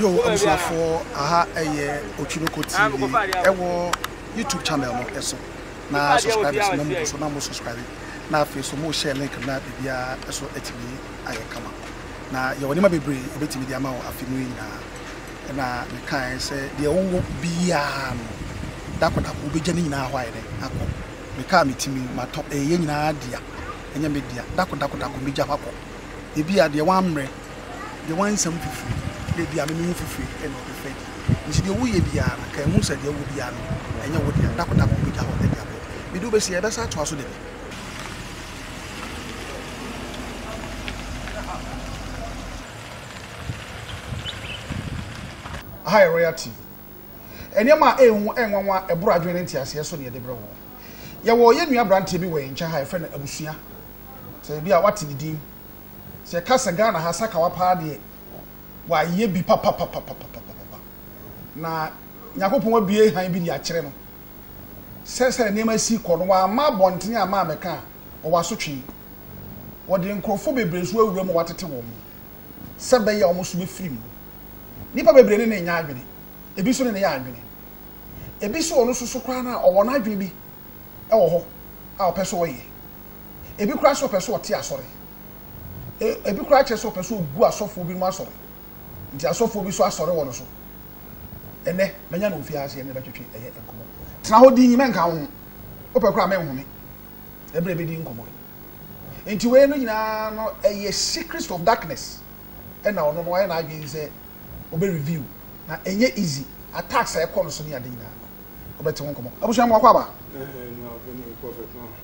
Yo abusuafoɔ aha ɛyɛ Otwiroko TV ɛwɔ YouTube channel no ɛso na subscribers na mugu so na mo subscribe na afei so mo share link na biribiara ɛso ɛtumi ayɛ kama. Na yɛwɔ nneɛma bebree a yɛbɛtumi de ama wo afe mu yi nyinaa. Ɛna mekaeɛ sɛ, deɛ wowɔ biara no, da koro da koro wobɛgya ne nyinaa hɔ ayɛ dɛn? Akɔ. Mekaa me ti mu yi, matɔ, ɛyɛ yɛn nyinaa dea, ɛnyɛ me dea. Da koro da koro da koro mɛgya hɔ akɔ. Ebia deɛ woammrɛ, deɛ woansa mu fifire, na ebia me me ho fifire na wobɛfa adi. Enti deɛ woyɛ biara no, kae hu sɛ deɛ wowɔ biara no, ɛnyɛ wo dea. Da koro da koro wobɛgya hɔ de abrɛ. Mede wo bɛsi ha, yɛbɛsan atoa so da bi. Aha yɛ Royal TV. Nneɛma a ɛyɛ hu, ɛyɛ nwanwa, a ɛboro adwene ne nteaseɛ so na yɛde brɛ wo. Yɛwɔ yɛn nua aberanteɛ bi wɔ yɛn nkyɛn ha a yɛfrɛ no Abusua. Sɛ ebi a woate ne din. Sɛ yɛka sɛ Ghana ha sakawa paa deɛ, wayɛ bi papapapapapapa. Na Nyankopɔn abue hann bi de akyerɛ no. sɛ sɛdeɛ nneɛma si rekɔ no, wamma abɔntene amma ammɛka a, ɔwɔ asotwe. Wɔde nkurɔfoɔ bebree nso awura mu a wɔatete wɔn sɛ ɛbɛyɛ a wɔn nso bɛfiri mu. Nnipa bebree ne no nyɛ adwene, ebi nso ne no yɛ adwene. Ebi nso ɔno nso so koraa no a, ɔwɔ n'adwene bi wɔ hɔ a ɔpɛ sɛ ɔyɛ. Ebi koraa nso ɔpɛ sɛ ɔte asɔre. E, ebi koraa kyerɛ sɛ ɔpɛ sɛ ɔgu asɔfoɔ binom asɔre. Nti asɔfoɔ bi nso asɔre wɔ no so ɛnnɛ. Mɛnya no wɔ fie ha ase ɛne no bɛtwetwe ɛyɛ nkɔmmɔ. Tena hɔ dinn, mɛnka wo ho. Wopɛ koraa a mɛnhome ɛberɛ a yɛbɛdi nkɔmmɔ yi. Nti wei no nyinaa no ɛyɛ secrets of darkness ɛna ɔno no wayɛ n'adwene sɛ ɔbɛ reveal na ɛnyɛ easy. Attacks a ɛkɔ no so ne ade nyinaa no wobɛte ho nkɔmmɔ. Abusua mu wakɔ aba?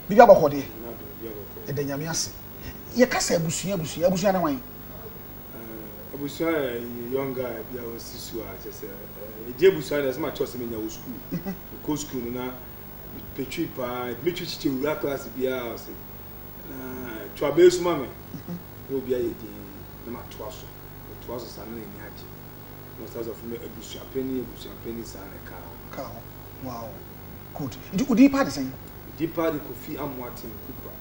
Biribi abɔkɔ deɛ? Yɛda Nyame ase. Yɛka sɛ abusua abusua, abusua ne hwan? Ebusua yɛ young guy bi a wasi su a kyɛ sɛ egye ebusua na ɛsɛ ma kyerɛ sɛ menya wɔ sukuu. Mekɔ sukuu no na mepɛ twi paa, ɛtumi twi kyekyɛ wura klaase biara ɔse na to abɛɛ su ma me na obi ayɛ din na matoa so. Metoa so saa na n'ani agye. Na ɔsan sɛ ɔfrɛ me abusua panin abusua panin saa na ɛkaa hɔ. Ɛkaa hɔ. Wow. Good. Nti wo din paa de sɛn? Me din paa de Kofi Amoaten Kupra.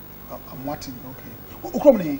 Amoaten, okay. Wo kurom ne he?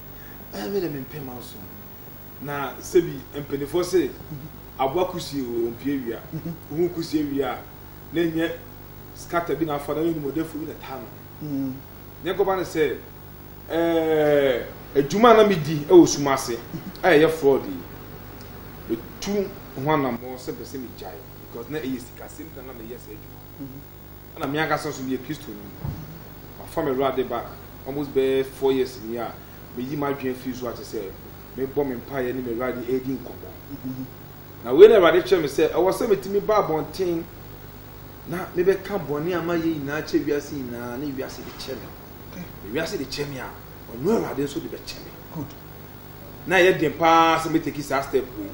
Ɛɛ me de mempɛ ma ɔso. Na sɛbi mpaninfoɔ se aboa kusie o ɔmpie awia. Wohu kusie wie a na ɛnyɛ scatter bi na afa na animɔdɛfoɔ bi na taa no. Nyɛ kɔba no sɛ ɛɛ adwuma a na medi wɔ sum ase a ɛyɛ fraud yi metu ho anammɔn sɛ mpɛ sɛ megyae because na ɛyɛ sikasɛm nti na na meyɛ saa adwuma no. na me ankasa nso meyɛ Kristoni. Mafa m'Awurade back almost bɛyɛ four years nie a meyi m'adwene afiri so a kyerɛ sɛ mebɔ me mpaeɛ ne m'Awurade redi nkɔmmɔ. Na wei na Awurade kyerɛ me sɛ ɛwɔ sɛ metumi ba abɔnten na mebɛka bɔne a mayɛ nyinaa kyɛ wiase nyinaa na wiase de kyɛ me. Na wiase de kyɛ me a, ɔno Awurade nso de bɛkyɛ me. Good. Na ɛyɛ den paa sɛ mɛteki saa step wei.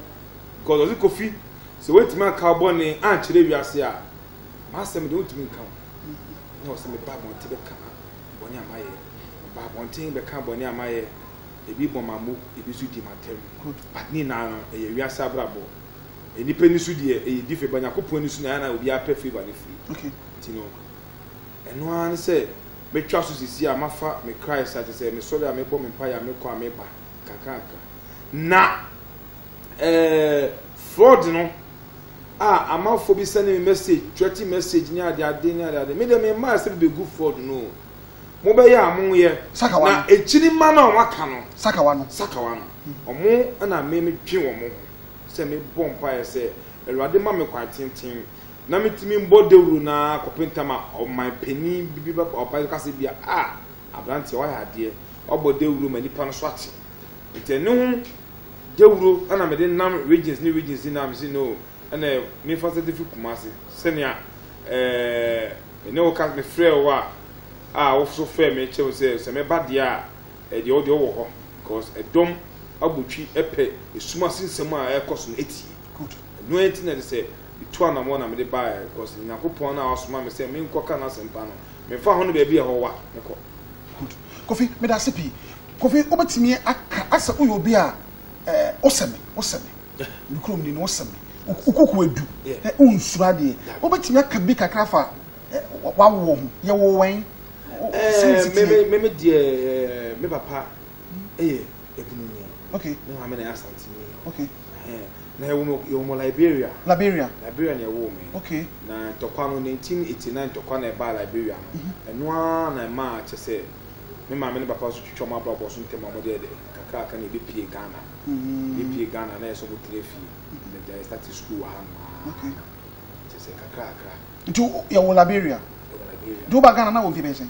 Because ɔse Kofi, sɛ woantumi anka wo bɔne ankyerɛ wiase a, M'asɛm de, ontumi nka ho. Na ɔse, Mebaa abɔnten bɛka bɔne a mayɛ. Mebaa abɔnten bɛka bɔne a mayɛ. Ebi bɔ m'amo, ebi nso di m'atɛm. But ne nyinaa no, ɛyɛ wiase abrabɔ. Nnipa ani so deɛ, ɛyɛ different, but Nyankopɔn ani so no, ɛyɛ a na obiara pɛ favour no firi. Nti no, ɛno ara ne sɛ metwa so seesei a mafa me Christ a, kyerɛ sɛ, mesɔre a, mebɔ me mpaeɛ a, mekɔ a, meba nkakrankakra. Na eh, fraud no. a amanfoɔ bi sɛne me message, threaten message ne adeade ne adeade. Me deɛ memmaa sɛ mebɛgu fraud no o. Mobɛyɛ a moyɛ. Sakawa no. Na akyiri mma no a wɔaka no. Sakawa no. Sakawa no. Ɔmo na me medwe wɔn ho sɛ mebɔ mpaeɛ sɛ Awurade ma me kwan tenten na metumi mbɔ dawuro no ara kɔpe ntam a ɔman panin bi ba ɔba ka sɛ bia a aberanteɛ wayɛ adeɛ wabɔ dawuro ma nipa no so ate. Nti ɛno ho. Dawuro na mede nam regions ne regions nyinaa a mese no ɛna mefa sɛ de fi Kumasi sɛnea ɛɛ me ne wo ka mefrɛ wo a a woso frɛ me kyerɛ me sɛ sɛ mɛba deɛ a ɛdeɛ wo deɛ wowɔ hɔ because ɛdɔm abotwi ɛpɛ esum ase nsɛm a ɛrekɔ so no etie good ɛno ɛnti na ɛde sɛ metu anamɔ na mede baeɛ because Nyankopɔn no a wasoma me sɛ menkɔka n'asɛmpa no memfa ho no baabi a ɛhɔ wa mekɔ Good. Kofi, meda ase pii. Kofi, wobɛtumi aka asɛ woyɛ obi a eh, wosɛ me, wosɛ me. Me kurom ni no, wosɛ me. Wo koko adu, eh, wonsuro adeɛ. Wobɛtumi aka bi kakra fa eh, wawoɔ ho. Yɛwo wɛn? Eh, me, me, me deɛ, eh, me papa ɛyɛ ebununi. Okay. Me maame na ɛyɛ asanteni. Okay. Ɛhɛn, na yɛwɔ mu, yɛwɔ mu Liberia. Liberia. Liberia na yɛwoo me. Okay. Na ntɔkwa no, 1989 ntɔkwa na ɛbaa Liberia no. Mhm. Ɛno ara na ɛmaa kyɛ sɛ me maame ne papa nso twitwa wɔn abrabɔ so ntɛm a wɔde ayɛ dɛ kakraka na yɛbɛpuee Ghana. Mm. Yɛpuee Ghana a na ɛyɛ sɛ wɔtena fie. Mhm. Yɛgya, yɛstate school wɔ hanom ara. Okay. Kyɛ sɛ kakra kakra. Nti yɛwɔ Liberia. Yɛwɔ Liberia. Nti woba Ghana na wɔ mfe bɛyɛ sɛn?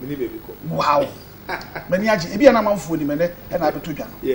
mene baabi kɔ wow m'ani agye ebi a na amanfoɔ nim ɛnɛ ɛna abɛtɔ dwa no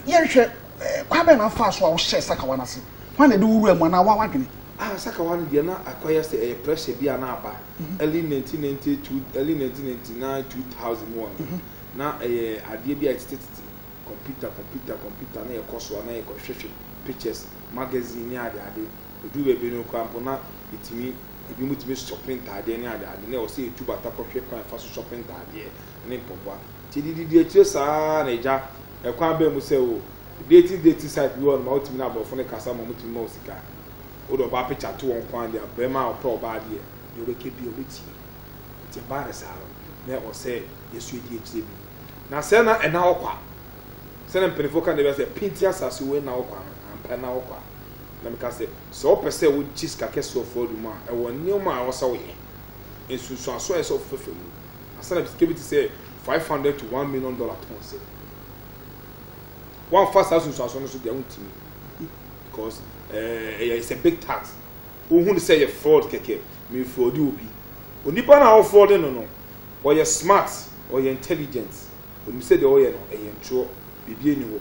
yɛnhwɛ eh, kwan bɛn na afaa so a wohyɛ sakawa no ase kwan na ɛde wowura mu anaa woa wadwene ah sakawa no deɛ na akɔyɛ sɛ ɛyɛ pressure bi a na aba mhm. early 1992 early 1999 2000 mu ɔno mhm. na ɛyɛ adeɛ bi a ɛtetetete computer computer computer na yɛkɔ so a na yɛkɔhwehwɛ pictures magazine ne adeade ɛduru baabi no koraa mpo na ɛtumi Ebinom tumi sɔpe ntaadeɛ ne adeade na ɛwɔ sɛ yɛtu bata kɔhwɛ kwan a yɛfa so sɔpe ntaadeɛ ne mpaboa. Nti de didi akyire saa ara na ɛgya ɛkwan bɛn mu sɛ wo dating dating site bi wɔ hɔ nom a wotumi ne aborɔfo no kasa ma wɔtumi ma wo sika. Wode ɔbaa picture to wɔn nko ara deɛ a, barima a ɔpɛ ɔbaa deɛ, deɛ wobɛka biara ɔbɛtie. Nti ɛbaa no saa no, na ɛwɔ sɛ yɛso ɛdi akyire bi. Na sɛ na ɛna hɔ kwa. Sɛdeɛ mpanimfoɔ ka no da biara sɛ, Pinti asase wei nna hɔ kwa no, ampa ɛnna hɔ kwa. Na meka sɛ, Sɛ wopɛ sɛ wogye sika kɛse wɔ fɔɔdo mu a, ɛwɔ nneɛma a ɛwɔ sɛ woyɛ, nsunsuanso a ɛsɛ sɛ wofefa mu, ansa na sika bi te sɛ five hundred to one million dollar atɔ wo nsam. Woamfa saa nsunsuanso no so deɛ wontumi, because eh, ɛyɛ it's a big tax. Wohu no sɛ ɛyɛ fraud kɛkɛ, mefrɔde obi. Onipa no a wofrɔde no no, ɔyɛ smart, ɔyɛ intelligent, onim sɛ deɛ ɔyɛ no ɛyɛ ntorɔ, biribi ani hɔ.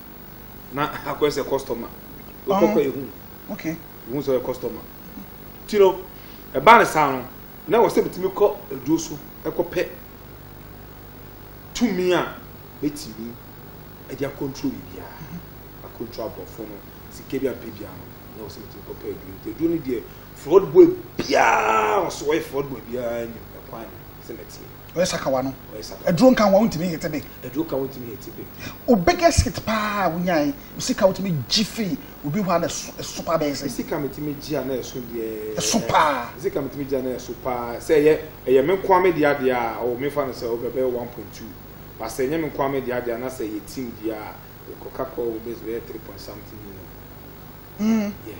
na akɔyɛ sɛ customer wokɔkɔ oh, ehu okay wohu sɛ ɔyɛ customer ti no ɛbaa ne saa no na wɔ sɛ metumi kɔ aduo so ɛkɔpɛ tumi a mɛtumi ɛde akɔntro biribiara mm-hmm. akɔntro aborɔfo no sika bi ampɛ biara no na wɔ sɛ metumi kɔpɛ aduo nti aduo no deɛ fraud boy biara ɔso ɔyɛ fraud boy biara nim ɛkwan sɛ mɛteɛ Ɔyɛ sakawa no. Aduro nka ho a wontumi hete bi. Aduro ka wontumi hete bi. O biggest hit paa wonyae. Sika wotumi gye fi obi hɔ a na ɛso paa bɛyɛ sɛ. Sika metumi gye a na ɛso deɛ. Ɛso paa. Sika metumi gye a na ɛso paa. Sɛ ɛyɛ ɛyɛ me nkoa me deɛ adeɛ a o mefa no sɛ o bɛbɛyɛ one point two. Ba sɛ ɛnyɛ me nkoa me deɛ adeɛ a na sɛ ɛyɛ team deɛ a ɛkɔ ka kɔ o bɛyɛ three point something million. Mm. Yeah.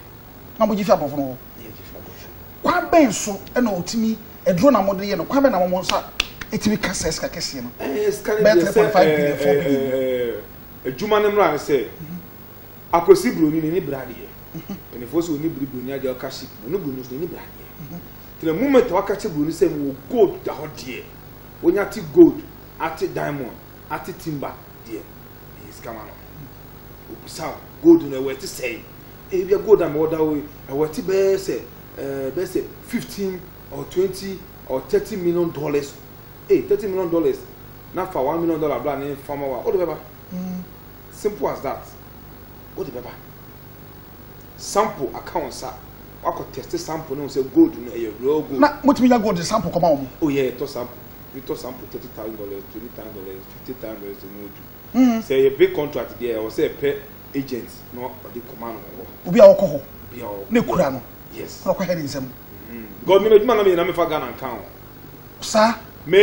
Na mo gye fi aborɔfo no hɔ. Yeah, gye fi aborɔfo. Kwan bɛn so ɛna otumi ɛduro na mo de yɛ no kwan bɛn na mo nsa etumi ka sɛ sika kɛseɛ no. Ɛɛ eh, sika no deɛ sɛ ɛɛ bɛɛ three point five billion four billion. Ɛɛ eh, eh, adwuma no mmra no sɛ akwasi buroni n'ani bere adeɛ mpanimfoɔ sɛ ɔni bere buroni adeɛ ɔka ship mu ɔni buroni nso n'ani bere adeɛ tena moment waka kyɛ buroni sɛ wɔ gold da hɔ deɛ wonya te gold ate diamond Ate timber deɛ ɛyɛ sika ma no obusa wo gold no ɛwɔ ɛte sɛn ebia gold a mewɔ da wo ɛwɔ ɛte bɛyɛ sɛ ɛɛ bɛyɛ sɛ fifteen or twenty or thirty million dollars ee thirty million dollars na fa one million dollar bla ne fama wa o de bɛba simple as that o de bɛba. sample aka wɔn nsa wakɔ test sample no sɛ gold no ɛyɛ real gold. na mo tumi nya gold de sample kɔma wɔn. o yɛ ɛtɔ sample bi tɔ sample thirty thousand dollars twenty thousand dollars fifty thousand dollars mu odu. Hmm. sɛ ɛyɛ big contract deɛ ɛwɔ sɛ ɛpɛ agent na ɔde kɔma no wɔ. obi a ɔkɔ hɔ obi a ɔwɔ ne kura no yes na ɔkɔ hɛ ne nsam. Hmm. god mi na edwuma na mi yɛ na mi fa ghana nkan o. saa. mi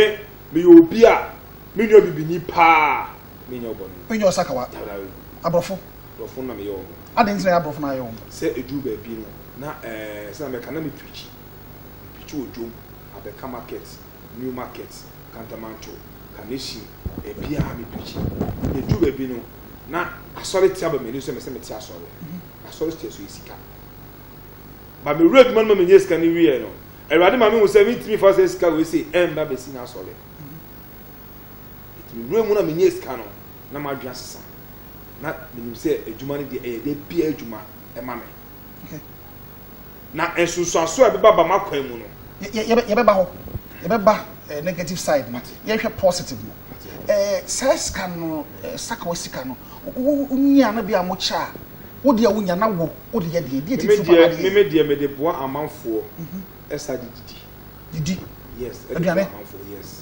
mi yɛ obi a mi nua bibini paa mi nya ɔbɔ ne. mi nya ɔsakawa aborɔfo. Borɔfo no na meyɛ wɔn. Adɛn nti na ɛyɛ aborɔfo na ayɛ wɔn? Sɛ ɛduru baabi no, na ɛɛ, sɛdeɛ mɛka, na mepreakyi. Mepreakyi wɔ dwom, Abɛka market, New market, Kantamanto, Kaneshie, baabiara mepreakyi. Ɛduru baabi no, na asɔre te aba m'ani so sɛ mɛsɛ mete asɔre. Na asɔre teɛ so yɛ sika. Ba mewura adwuma no ma menyɛ sika no wieɛ no, Awurade ma mehu sɛ mentumi mfa sɛ sika wei sei ɛmma bɛsi n'asɔre. Ɛti mewura mu na menyɛ sika no, na m'adwene asesa. na menim sɛ adwuma no deɛ ɛyɛ da biara adwuma ɛma me na nsonsoaso a ɛbɛba ba m'akwan mu no yɛbɛba hɔ yɛbɛba eh, negative side no yɛhwɛ positive no eh, saa sika no eh, sakawa sika no wonya no bi a mokyɛ a wodeɛ wonya na wo wode yɛ deɛ deɛ titiri papa deɛ meme deɛ mede boa amanfoɔ mhm. ɛsa de didi didi yes ɛde boa amanfoɔ yes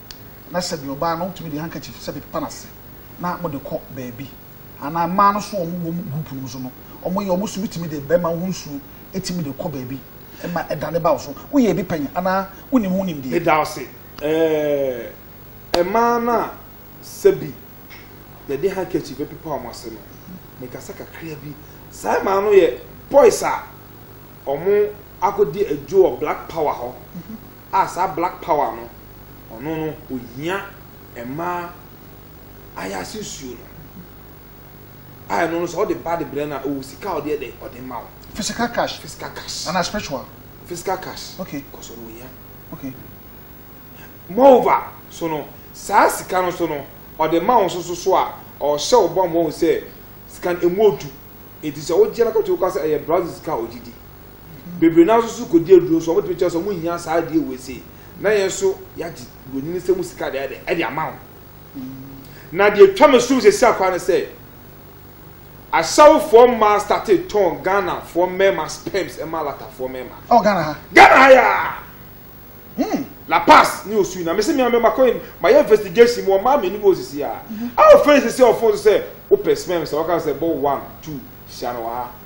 na sɛ deɛ ɔbaa no wotumi de handkerchief sɛ de pepa n'ase na mode kɔ baabi anaa mmaa no so wɔn wɔn group no mu so no wɔn yɛ wɔn so wotumi de bɛrima ho nsuo etumi de kɔ baabi ɛma ɛda ne ba wo so woyɛ ebi pɛn anaa wonim ho nimdeɛ. meda ase ɛɛ mmaa no a sɛbi yɛde handkerchief bɛpepa wɔn ase no mekasa kakra bi saa mmaa no yɛ boys a wɔn akɔdi adwo wɔ black power hɔ. a saa black power no ɔno no ohia mmaa ayase nsuo no a ɛno no sɛ ɔde ba de brɛ no a ɔwɔ sika a ɔde ɛdɛ ɔde ma wo physical cash physical cash ana spiritual physical cash okay kɔsɔ no ohia okay moreover so no saa sika no so no ɔde ma wo so so so a ɔhyɛ wo bɔmmɔ ho sɛ sika no emu odu eti sɛ wogyina kɔtɔ kɔ sɛ ɛyɛ brazil sika a ogye di Bebree no ara nso so kɔdi aduro nso wɔtumi kyerɛ sɛ wɔhia saa adeɛ wei sei na yɛn nso yɛagye buroni no nsɛm sika de ayɛ de ama wo. Na deɛ twa me som sɛsi akora ne sɛ asawofoɔ mmaa state tɔn Ghanafoɔ mmarima sperms ɛma latafoɔ mmarima. Ɔ Ghana ha? Ghana ha yaa. Hmm. La Paz ne osu na mese mmea mmɛma kɔ ma yɛ investigation mu ɔmaa mmienu bi osisi a. A ofɛn sisi ɔfon so sɛ wopɛ sperms a wɔka sɛ bɔ one two hyia no wɔ ha.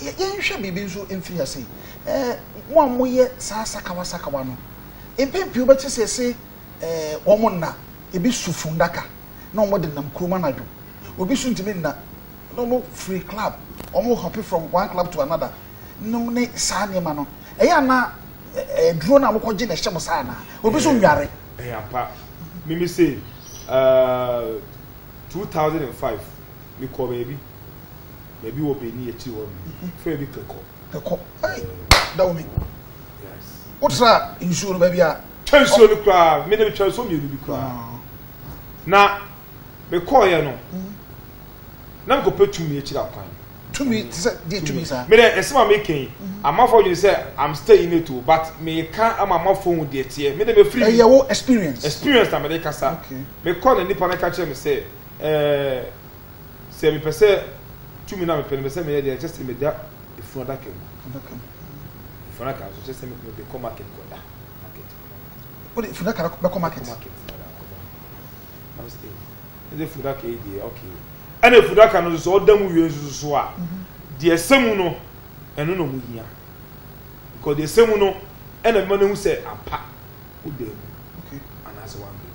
Yɛnhwɛ biribi nso mfiri ase. Eh, mo a moyɛ saa sakawa sakawa no, mpɛn pii wobɛte sɛ se eh, wɔn nna, ebi so fundaka na wɔn de nam kurom anadwo. Obi so ntumi nna na wɔn free club, wɔn hopping from one club to another. Nom ne saa nneɛma no. Ɛyɛ ana eh, duro na wɔkɔgye na ɛhyɛ mo saa anaa? Obi so nware. Ɛyɛ ampa. Mimi se, uh, 2005. mekɔ baabi baabi wɔ bɛni akyiri hɔ no mhm. frɛ bi kɛkɔ kɛkɔ da wo me wotra nsuo no baabi a twa nsuo no koraa me ne metwa nsuo mmienu bi koraa ah. na mekɔɔyɛ no mhm. na mekɔpɛ tumi akyiri akwan tumi te sɛ deɛ tumi saa mede ɛsɛm a meka yi mhm. amanfoɔ dwene sɛ am stay in it o but meka ama amanfoɔ hu deɛ teɛ mede mefiri ɛyɛ wo experience experience na mede kasa mekɔ na nipa no ka kyerɛ me sɛ Ɛɛ, sɛ mepɛ sɛ tumi no a mepɛ no mepɛ sɛ meyɛ deɛ, ɛkyɛ sɛ meda funu adaka mu. Adaka mu. Funu adaka nso kyɛ sɛ mekɔ mede kɔ market kɔda. Market. Wode funu adaka no bɛkɔ market. Market kɔda kɔda. Na mesi eh, ɛde funu adaka yi deɛ okay. Ɛna funu adaka no nso ɔda mu wie nso so a, mhm. deɛ ɛsɛ mu no ɛno na ɔmo hia. Because deɛ ɛsɛ mu no ɛna mma no ehu sɛ ampa woda mu anaasɛ wanda mu.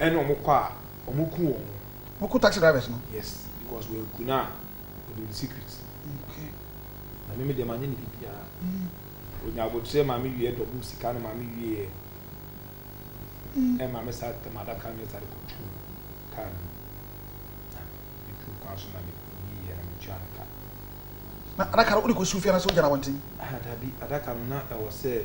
ɛne ɔmo kɔ a ɔmo ku wɔn ho. Mo ku taxi drivers no? Yes because wɔ aku no a ɔnim ne secret. Okay. Na me me deɛ ma nyɛ no bibiaa. Mm. Onya abotrɛ ma me wie double sika no ma me wieɛ. Mm. Ɛma me sa tɛm adaka no sa de kɔ tu car no. Na me tu kwan so na me wieɛ na me tua no ka. Na adaka no wode kɔ su fia na sɛ ogyina wɔnten? Ah dabi adaka no na ɛwɔ sɛ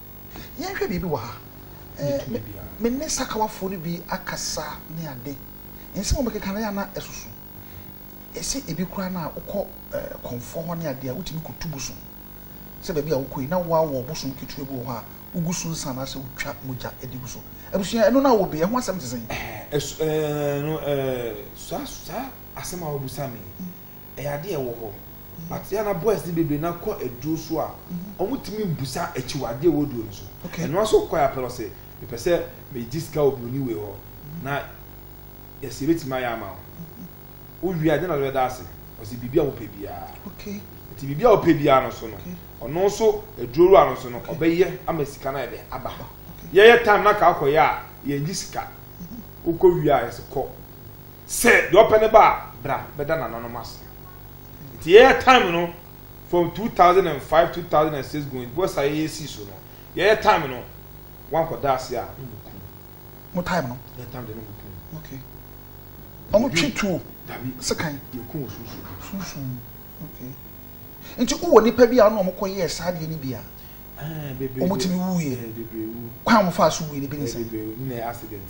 Yɛnhwɛ biribi wɔ ha. Me, me ne sakawafoɔ no bi akasa ne ade. Nsɛm a wɔbɛkeka no yɛ a na ɛsoso. Ɛsɛ ebi koraa no a wokɔ eh, kɔmfoɔ hɔ ne ade a, wotumi kɔtu bosom. Sɛ baabi a wokɔ yi, na woawɔ bosom ketewa bi wɔ hɔ a wogu so nsa anaasɛ wotwa mogya de gu so. Abusua, ɛno no a wɔbɛ, ɛho asɛm te sɛn? Ɛso, ɛɛ, no, ɛɛ, saa, saa asɛm a wabisa me yi, Ɛyɛ ade a ɛwɔ hɔ, but yɛ a na boys no bebree no akɔ aduro so a wɔn tumi mbusa akyiwadeɛ wɔ aduro no so. Okay. Ɛnoa so kɔɛ apɛ no ɔsɛ mepɛ sɛ megye sika wɔ buroni wei hɔ na yɛsɛ yɛbɛtumi ayɛ ama wo. Wowie a deɛ na bɛda ase? Ɔsɛ biribi a wopɛ biara. Okay. Nti biribi a wopɛ biara no so no, okay. ɔno nso aduro wura no so no okay. ɔbɛyɛ ama sika no ayɛ dɛ aba. Okay. Yɛyɛ time na ka akɔyɛ a yɛngye sika. Wokɔ wie a yɛsɛ kɔ. Sɛ deɛ ɔpɛ ne ba a, bra bɛda nananom ase. Nti yɛyɛ time no from 2005, 2006 going bɔ saa yɛyɛ sii so no, yɛyɛ time no wankɔ da ase a ne bo kum. Mo time no? Yɛ time deɛ ne bo kum. Okay. Ɔmo twi tuo? Dabi. Sekan? Yɛ kum wɔ sunsum. Sunsum. Okay. Nti wowɔ nipa bi a ɔne ɔmo kɔ yɛɛ saa deɛ ne bi a? Ɛɛ bebree. Ɔmo tumi wuiɛ? Ɛɛ bebree wu. Kwan a ɔmo faa so wuiɛ ne bi ne sɛ? Ɛɛ bebree wu ne na yɛ accident.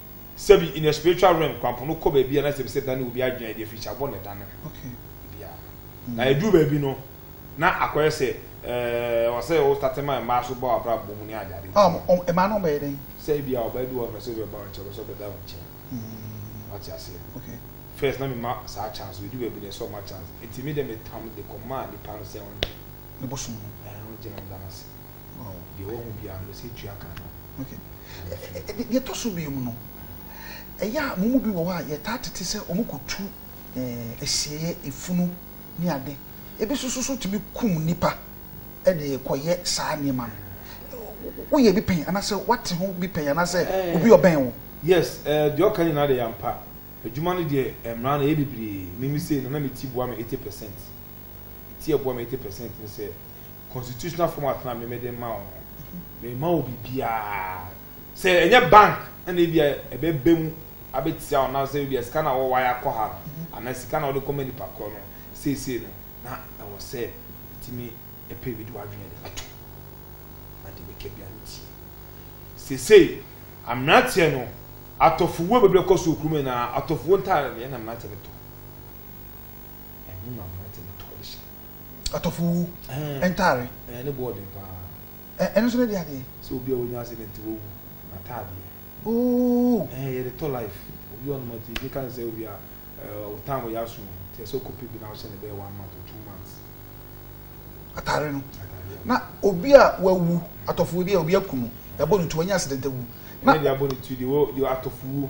sɛbi in a spiritual realm kwampo no kɔ baabi a na sɛbi sɛ dane obi adwene a ɛde afiri sɛ abɔ ne dane no okay bia na ɛduru baabi no na akɔyɛ sɛ ɛɛ ɔsɛ yɛ wostate ma mmaa so bɔ abra bɔ mu ne ade ade um, um, ɛmaa no bɛyɛ dɛn sɛ ebi a ɔbaa bi wɔ mɛ sɛ obi ɔbaa nkyɛn ɔbɛsɛ ɔbɛda wo nkyɛn mm. wate aseɛ okay first na mema saa chance ɛdu baabi na ɛsɛ ɔma chance ɛti me dɛ metam de kɔmaa nipa no sɛ ɔnde ne bosom no ɛɛ ɔngyina ɔda no ase Deɛ wahu biara no, ɔsɛ tua ka no. Okay. Deɛ ɛtɔ so mmienu no, ɛyɛ a mo mu bi wɔ hɔ a yɛtaa tete sɛ wɔkɔtu asieeɛ, efunu ne ade. Ebi nso so so tumi kum nnipa de kɔyɛ saa nneɛma no. Woyɛ bi pɛn anaasɛ woate ho bi pɛn anaasɛ obi ɔbɛn wo? Yes, deɛ ɔka nyinaa deɛ yɛ ampa. Adwuma no deɛ mmara no ɛyɛ bebree. Me me sei no na me ti boa me eighty percent. Me ti ɛboa me eighty percent ne sɛ constitutional format na meme de ma wo no mema wo biribiara sɛ ɛnyɛ bank ɛna ebi a ɛbɛbɛ mu abɛtia wo na sɛ ebi a sika na wɔwɔ ayɛ akɔ ha no mhm. anaa sika na wɔde kɔma nipa korɔ no seesei no na ɛwɔ sɛ ɛtumi ɛpɛ bi de wadwene de bɛto na de bɛka bi ano tie seesei mmeranteɛ no atɔfowuo bebree kɔ so okurum nyinaa atɔfowuo ntaare no yɛn na mmeranteɛ no tɔ ɛno na mmeranteɛ no tɔ de hyɛ Atɔfowu ntare. Ɛɛ ne bo ɔden paa. Ɛɛ ɛno nso ne de adeɛ. Sɛ obi a wanya accident wawu n'ataadeɛ. Ooh. Ɛɛ yɛde tɔ life. Obi wɔ nom ɔte yɛka ne sɛ obi a ɛɛ wo time yɛ aso o nti ɛsɛ ɔkɔpɛ bi na wohyɛ ne bɛyɛ one month or two months. Atare no. Ataadeɛ no. Na obi a wawu atɔfowu bi a obi aku no yɛabɔ ne tu wanya accident awu. Ɛnyɛ deɛ abɔ ne tu deɛ wɔ deɛ atɔfowu.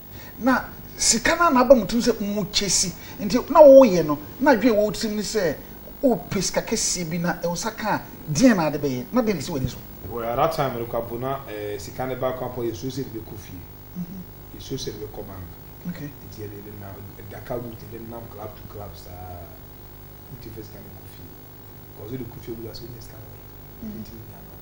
Na sika no a na aba mu tirim sɛ mu kyɛsi nti na woyɛ no na adwene a ɛwɔ wo tirim ne sɛ wopɛ sika kɛseɛ bi na wo nsa ka a deɛn na wode bɛyɛ na deɛn na ɛsi w'ani so? Well at that time merekɔ abo na sika no baako a mpo a yɛsuro sɛ yɛde bɛkɔ fie, yɛsuro sɛ yɛde bɛkɔ bank nti yɛde nenam adaka route yɛde nenam club to club saa wotumi fa sika no kɔ fie because wode kɔ fie a wobisa sɛ wonya sika no wɔ he? Wobɛtumi anya ama wo.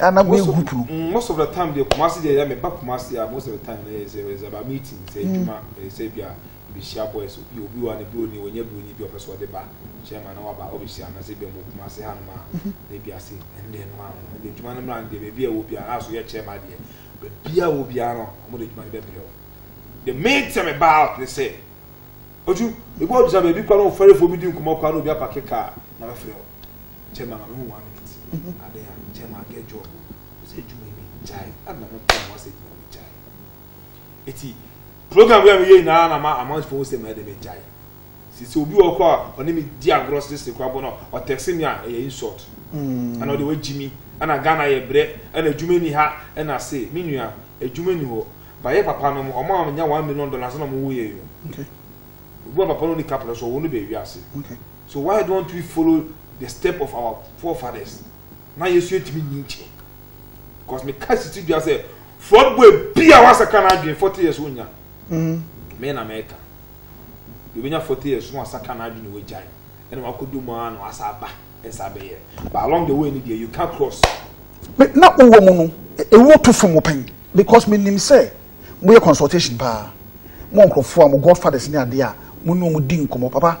a na mi gu puru. Mm, most of the time deɛ kumasi deɛ yɛ mi ba kumasi a most of the time na yɛ sɛ ɛsɛ ba meeting sɛ mm. edwuma ɛsɛ bi a ebi hyia boys obi obi wa ne bi oni onye bi onye bi ɔpɛ so ɔde ba chairman na waba ɔbɛ hyia na sɛ bi ɔmo kumasi ha nom a mhm. na ebi ase ɛnde ɛnum ano na de edwuma no mura no deɛ beebi a ɛwɔ biara aso yɛ chairman deɛ beebi a ɛwɔ biara no ɔmo de edwuma no bɛ brɛ o the main thing about ne sɛ otu ebi ɔgyina beebi kora na ɔfɛrɛfo bi di nkɔmɔ kora na obi apake kaa na bɛ fɛ o. chairman ma me hu one minute mm-hmm. ade a chairman get job o sɛ adwuma yi mi gyae ɛna mo pɔn mo asɛ adwuma mi gyae eti program bi a mi yɛ nyinaa na ma amanfoɔ sɛ ma ɛde mi gyae sisi obi wɔ kɔ a ɔne mi di agorɔ sisi kɔ abɔ no ɔtɛksi mi a ɛyɛ insult mm. ɛna ɔde wagyi mi ɛna ghana yɛ brɛ ɛna adwuma ni ha ɛna se mi nua adwuma ni hɔ bayɛ papa no mo ɔmo a nya one million dollars na ɔmo wɔ yɛ yi o obi wɔ papa no ni kapra so ɔwɔ no bɛ wi ase. Okay. So why don't we follow the step of our forefathers na yɛsu atumi nyi nkyɛ because me ka sisi dua sɛ fraud boy bi a wasaka n'adwene forty years onya mm. me na mɛka yɛbɛnya forty years no asaka n'adwene wagyae ɛna wakɔdu mu a na wasa aba ɛsa abɛyɛ but along the way ni deɛ you can cross na wowɔ mu no ɛwɔ to fam pɛn because menim sɛ moyɛ consultation paa mo nkurɔfoɔ a mo godfathers ne adeɛ a mo ne ɔmo di nkɔmmɔ papa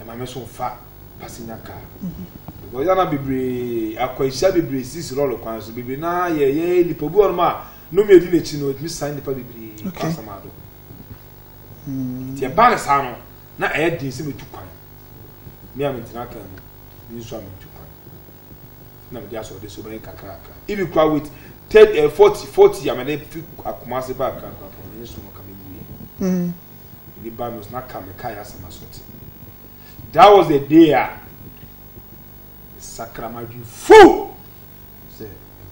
Ɛma me so fa passenger car. Because yana bebree akwanhyia bebree sisi lɔre kwan so bebree na yɛ yɛ nipa bi wɔn a no mi edi n'akyi no etumi san nipa bebree kɔ asam ado. Hmm. Ti ɛba ne saa no na ɛyɛ den sɛ metu kwan. Mi a mentena kan mu mi nso a metu kwan. Na mede asɔ ɔde so bɛyɛ kakraka. Ibi kura wit thirty eh, forty forty a mede fi akoma ase ba akra kura pɔn ne so no ka me wie. Hmm. ne ba no na ka mekae asɛm asɔte that was the day a sakra m'adwene full sɛ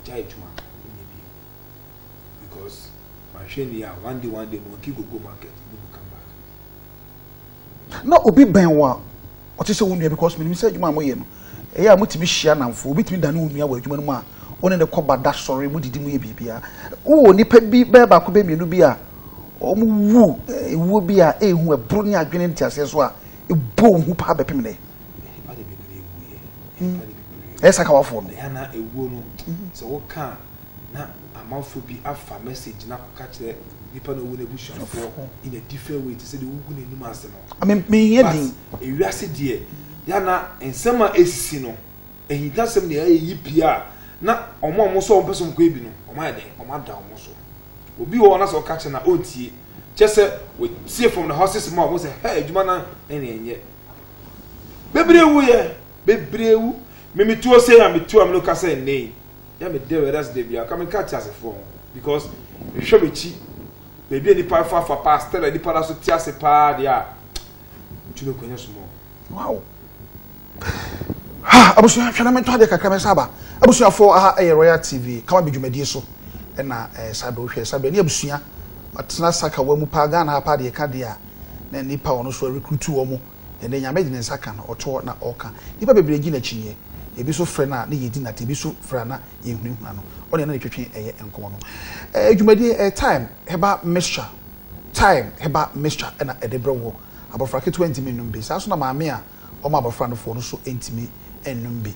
gya adwuma nyɛ bi because mahwɛ ni a one day one day monkey go go market ne mu come back na obi bɛn wo a ɔte sɛ wo nua because menim sɛ adwuma a moyɛ no Ɛyɛ a mutumi hyia nnamfo. Obi tumi dane wo nua wɔ adwuma no mu a wo ne no kɔ ba, da, sɔre, mudidi, moyɛ biribiara. Wowɔ nnipa bi, bɛyɛ baako, bɛyɛ mmienu bi a wɔwu wuo bi a ehu ɛboro ne adwene nteaseɛ so a ɛbɔ wo hu paa bɛpem nnɛ. Nnipa de bebree wuiɛ. Nnipa de bebree wuiɛ. Ɛyɛ saa kawafoɔ no. Ɛyɛ na ewuo no, sɛ woka a, na amanfoɔ bi afa message no akɔka kyerɛ nipa na owu no abusuafoɔ in a different way te sɛ deɛ wogu n'anim ase no. Me, menhia din. But ewiase deɛ. Ghana nsɛm a esisi no, ahintasɛm ne ayeyi pii a na wɔn a wɔn sɛ wɔn pɛ sɛ wɔn kɔyɛ bi no, wɔn ayɛ dɛn? Wɔn ada wɔn so. Obi wɔ hɔ na sɛ ɔka kyerɛ no a ɔntie. Kyɛ sɛ wɔtie from the horses mouth, wɔn sɛ hɛ adwuma no ɛne ɛnyɛ. Bebree wu yɛ, bebree wu. Me me tuo sei a me tuo a me no ka sɛ nnɛ yi, yɛ me dɛ wɛda se dɛ bia ka me ka te asefoɔ ho because me hwɛ m'akyi baabi a nipa afa afa paa, still a nipa da so te ase paa deɛ a. Ntumi kɔ nyɛ sumɔ. Wow. Ha abusua hwɛ na mentɔ adeɛ kakra mɛsa aba. Abusuafoɔ aha ɛyɛ Royal TV kama bi dwumadie so ɛna ɛɛ Sado hwɛ Sado ɛne abusua ɔtena sakawa mu paa Ghana ha paa deɛ ɛka deɛ a na nipa a ɔno so ɛrekrutu wɔn ɛnɛ nyame de ne nsa ka no ɔtoɔ na ɔka nipa bebree gye n'akyinnyeɛ ebi so frɛ no a na yɛdi nate ebi so frɛ a na yɛhunahuna no ɔne na ne twetwe ɛyɛ nkɔmɔ no ɛɛ dwumadie ɛɛ time heba mixture. Time, Heba mixture na ɛde brɛ wo. Abɔfra ketewa ntumi nnom bi. Saa ara nso na maame a ɔma abɔfra no foɔ no nso ntumi nnom bi.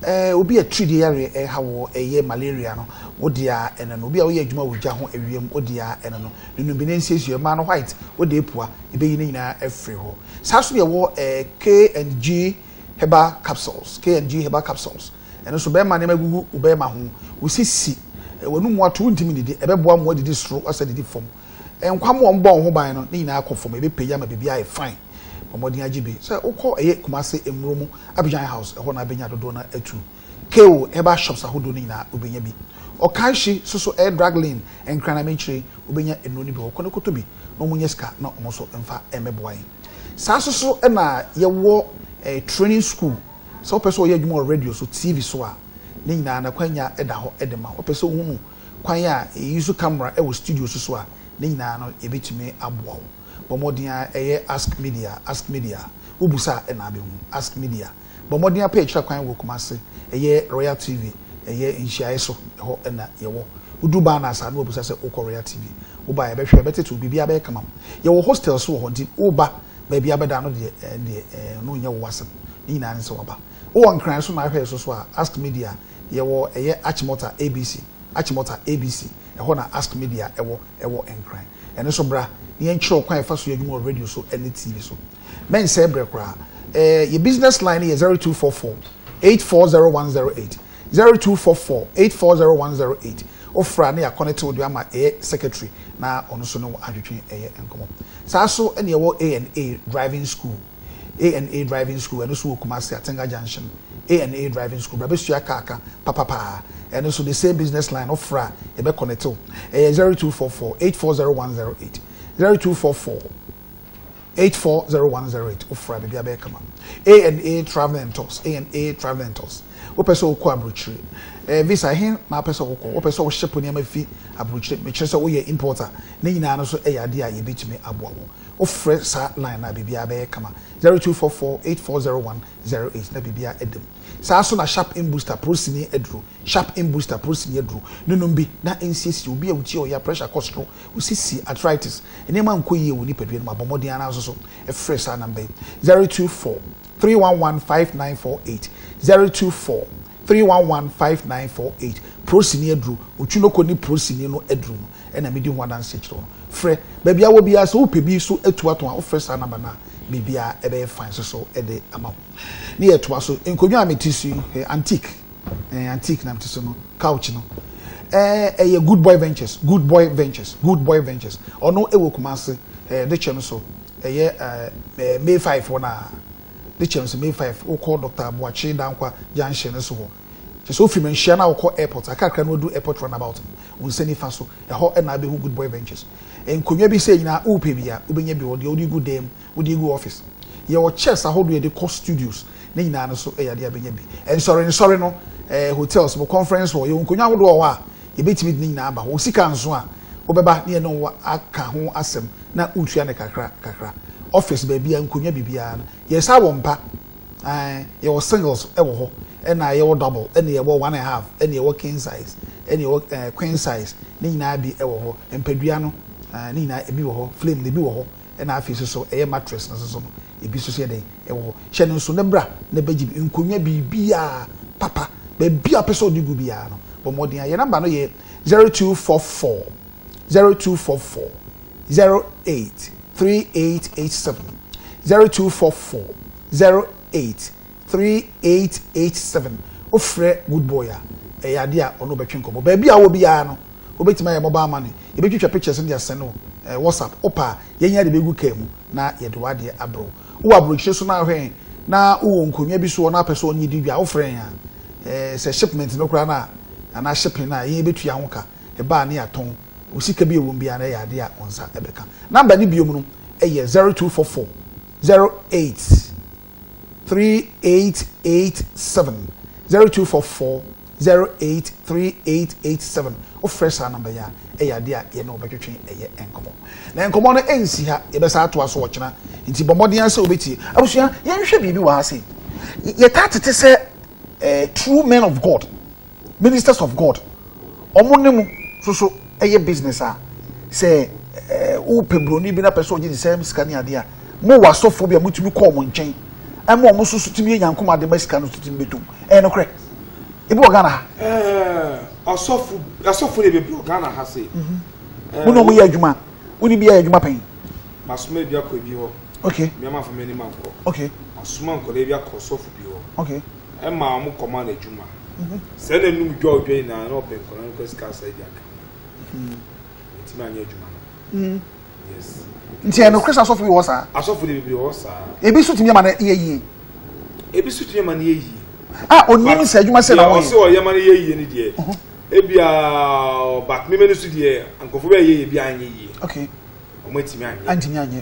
Eh, obi a tiridie yareɛ reha wo, ɛyɛ malaria no, wo deɛ ara ɛno no. Obi a woyɛ adwuma wɔ gya ho ɛwiem, wo deɛ ara ɛno no. Ne nnom bi na ɛnsiesie. Mmaa no white, wo deɛ pua. Yɛbɛyi ne nyinaa afiri hɔ. Saa ara nso na yɛwɔ eh, K and G Heba Capsules, K and G Heba Capsules. Ɛno nso, bɛrima nneɛma gugu wo barima ho, wo sisi, w'anomu ato, wontumi nnidi, ɛbɛboa mmoa didi soro asɛ didi fam. Nkwa mu a wɔbɔ wo ho ban no, ne nyinaa kɔ fam, ɛbɛpagya ma biribiara ayɛ fine. Bɔ mmɔden agye bi. Sɛ wokɔ ɛyɛ Kumasi Mmuro mu, Abidjan House, ɛhɔ na bɛnya dodoɔ no ara atu. Keo herbal shops ahodoɔ no nyinaa wobɛnya bi. Okaishi so so ɛyɛ drug lane, Nkran akyire, wobɛnya nnuro no bi hɔ. Kɔ na kɔtɔ bi na wɔnyɛ sika na wɔn nso mfa mmɛboa yɛn. Saa nso so na yɛwɔ training school Sɛ wopɛ sɛ ɔyɛ adwuma wɔ radio so, TV so a, ne nyinaa no akwanya da hɔ de ma wo. Wopɛ sɛ wohunu kwan a yɛuse camera wɔ studio so so a, ne nyinaa no yɛbɛtumi aboa wo. Bɔ mmɔden ara yɛ Ask Media, Ask Media. Wobisa a na abɛhu. Ask Media. Bɔ mmɔden ara pɛ akyiri akwan wɔ Kumasi, ɛyɛ Royal TV, ɛyɛ nhyiaeɛ so, ɛhɔ na yɛwɔ. Woduru Barners a na wɔbisa sɛ wokɔ Royal TV. Woba a yɛbɛhwɛ, yɛbɛtete wo, biribiara bɛyɛ kamam. Yɛwɔ hostel nso wɔ hɔ nti woba Baabi a bɛda no deɛ ɛɛ deɛ ɛɛ ɔno nyɛ wo asɛm. Ne nyinaa ne sɛ waba. Wo wɔ Nkran so na ahwɛ so so a, Ask Media yɛ wɔ ɛyɛ Achimota ABC, Achimota ABC, ɛhɔ na Ask Media ɛwɔ ɛwɔ Nkran. Ɛno so bra na yɛn kyerɛ wo kwan a yɛfa so yɛ adwuma wɔ radio so ɛne TV so. Mɛnsɛɛ brɛ koraa. Ɛɛ yɛ business line no yɛ zero two four four eight four zero one zero eight. Zero two four four eight four zero one zero eight Ofra ne Yakɔ ne Tew Dua ma ɛyɛ secretary na ɔno nso ne wo adwetwe ɛyɛ nkɔmɔ. Saa nso ne ɛwɔ A and A driving school, A and A driving school ɛno nso wɔ Kumasi Atenga junction, A and A driving school bra bɛsua car ka papapaa ɛno nso the same business line ofra a yɛbɛ connectew ɛyɛ zero two four four eight four zero one zero eight Zero two four four. Eight four zero one zero eight Wofra a biribiara bɛyɛ kama A and A Travel and Tours A and A Travel and Tours Wopɛ sɛ wokɔ aburokyire? Ɛɛ, visa, ɛhe na wopɛ sɛ wokɔ? Wopɛ sɛ woship nneɛma fi aburokyire, mekyerɛ sɛ woyɛ importer, ne nyinaa no nso yɛ adeɛ a yɛbɛtumi aboa wo. Wofrɛ saa line no a, biribiara bɛyɛ kama Zero two four four eight four zero one zero eight na biribiara ada mu. Saa ara nso na Sharp In Booster Porosini aduro, Sharp In Booster Porosini aduro, no nom bi na nsiesie. Obi a wo ti yɛ wo ya, pressure kɔ soro, Wo sisi, arthritis, nneɛma nkɔ yie wɔ nipadua no mu, abɔ mmɔden ara nso so. Frɛ saa namba yi, 024 311 5948, 024 311 5948. Prosini aduro, Otwinoko ne Prosini no aduro no na medi ho adanseɛ kyerɛ wo no. Frɛ. Baabi a wɔ biara, sɛ wopɛ bi so atu atɔn a, wofrɛ saa namba no a, biribiara bɛyɛ fine nso so de ama wo. Ne yɛtoa so, nkonnwa a mete so yi, ɛyɛ antique. Eh, antique na mete so no couch no eh, ɛyɛ eh, good boy ventures good boy ventures good boy ventures ɔno ɛwɔ kumase eh, de kyɛ no so ɛyɛ eh, eh, may five hɔ na de kyɛ no so may five wokɔ dr abuakye dankwa junction no so hɔ kyɛ sɛ ofiri manhyia na wokɔ airport akakra na wadu airport runabout wo nsa nifa so ɛhɔ ɛna abɛhu good boy ventures nkonnwa bi sɛ nyinaa wopɛ bi a wobɛnya bi wɔ deɛ wode gu dam Wode agu office? Yɛwɔ chairs ahodoɔ yɛde kɔ studios, ne nyinaa no so yɛ adeɛ a bɛnya bi. Nsɔre nsɔre no, eh, hotels mu, conference hall, yɛwɔ nkonnwa ahodoɔ wɔ hɔ a yɛbɛtumi de ne nyinaa aba hɔ. Wo sika nso a, wobɛba ne yɛne wo aka ho asɛm na wotua no kakra kakra. Office baabiara, nkonnwa biribiara no, yɛsan wɔ mpa. Ae, yɛwɔ singles wɔ hɔ, ɛna yɛwɔ double, ɛna yɛwɔ one and half, ɛna yɛwɔ king size, ɛna yɛwɔ, eh, queen size, ne nyinaa bi wɔ hɔ. Mpadua no, eh, ne nyinaa, ebi wɔ hɔ, flame no, ebi wɔ hɔ. Ɛna afei nso so ɛyɛ mattress no nso so no ebi nso so yɛ dɛn ɛwɔ hɔ. Hyɛ no nso na bra na bɛgye bi, nkonnwa biribiara papa baabi a wopɛ sɛ ɔde gu biara no bɔ mmɔden a. Yɛn number no yɛ zero two four four zero two four four zero eight three eight eight seven zero two four four zero eight 3887 Wofrɛ Good Boy a, ɛyɛ ade a ɔne wo bɛtwe nkɔmmɔ. Baabi a wowɔ biara no, wobɛtumi ayɛ mobile money. Yɛbɛtwitwa pictures no de asɛne wo WhatsApp. Wopɛ a, yɛn nyinaa de bɛgu kaa mu na yɛde w'adeɛ abrɛ wo. Wowɔ aburokyire so na ahwɛ yɛn na wowɔ nkonnwa bi so hɔ na wopɛ sɛ ɔne yɛdi dwa a, wofrɛ yɛn a, sɛ shipment no koraa no a, anaa shipping no a, yɛn yɛbɛtua ho ka. Ɛba a na yɛatɔn. Wo sika bi a ɛwɔ mu biara no, ɛyɛ adeɛ a wo nsa bɛka. Number no bio no yɛ 0244 08 3887 0244 083887 wofrɛ saa number yi a ɛyɛ adeɛ a yɛne wo bɛtwetwe ɛyɛ nkɔmmɔ na nkɔmmɔ no ɛnsi ha yɛbɛsa atoa so ɔkyena nti bɔ mmɔden asɛ wobɛtie abusua yɛnhwɛ biribi wɔ ha se yɛtaa tete sɛ eh, true men of God Ministers of God, ɔmo ne mo soso ɛyɛ business a, sɛ wo pɛ broni bi na pɛ sɛ ɔgye nsɛm sika ne adeɛ a, mo wɔ asɔfoɔ bi a motumi kɔ ɔmo nkyɛn ɛma ɔmo soso tumi yɛ nyanko ma adeɛ ma sika no so tumi bɛtom. Ɛyɛ no korɛ. Ebi wɔ Ghana ha. Ɛɛ, asɔfo, asɔfo ne bebree wɔ Ghana ha se. Mhm. Mo na ɔmo yɛ adwuma, wo ne bi yɛ adwuma pɛn? Masoma ebi akɔ ebi hɔ. Okay. Mmea ma fa m'anim ankɔ. Okay. Masoma nkɔla ebi akɔ sɔfo bi hɔ. Okay. ɛma wɔn kɔma no adwuma sɛ na num dwɔdwɔ nyinaa na ɔpɛ nkɔla no kɔ sika asa adi aka ntumi anyɛ adwuma no yes nti ɛno kris asɔfo bi wɔ saa asɔfo de bebree wɔ saa ebi so tumi ama no yɛ yie ebi so tumi ama no yɛ yie a onim sɛ adwuma sɛ na wɔyɛ ɔsɛ ɔyɛ ma no yɛ yie ne deɛ ebia but mímɛ no so deɛ nkɔfo bɛyɛ yɛ bi anyɛ yie okay wɔn atumi anyɛ antumi anyɛ.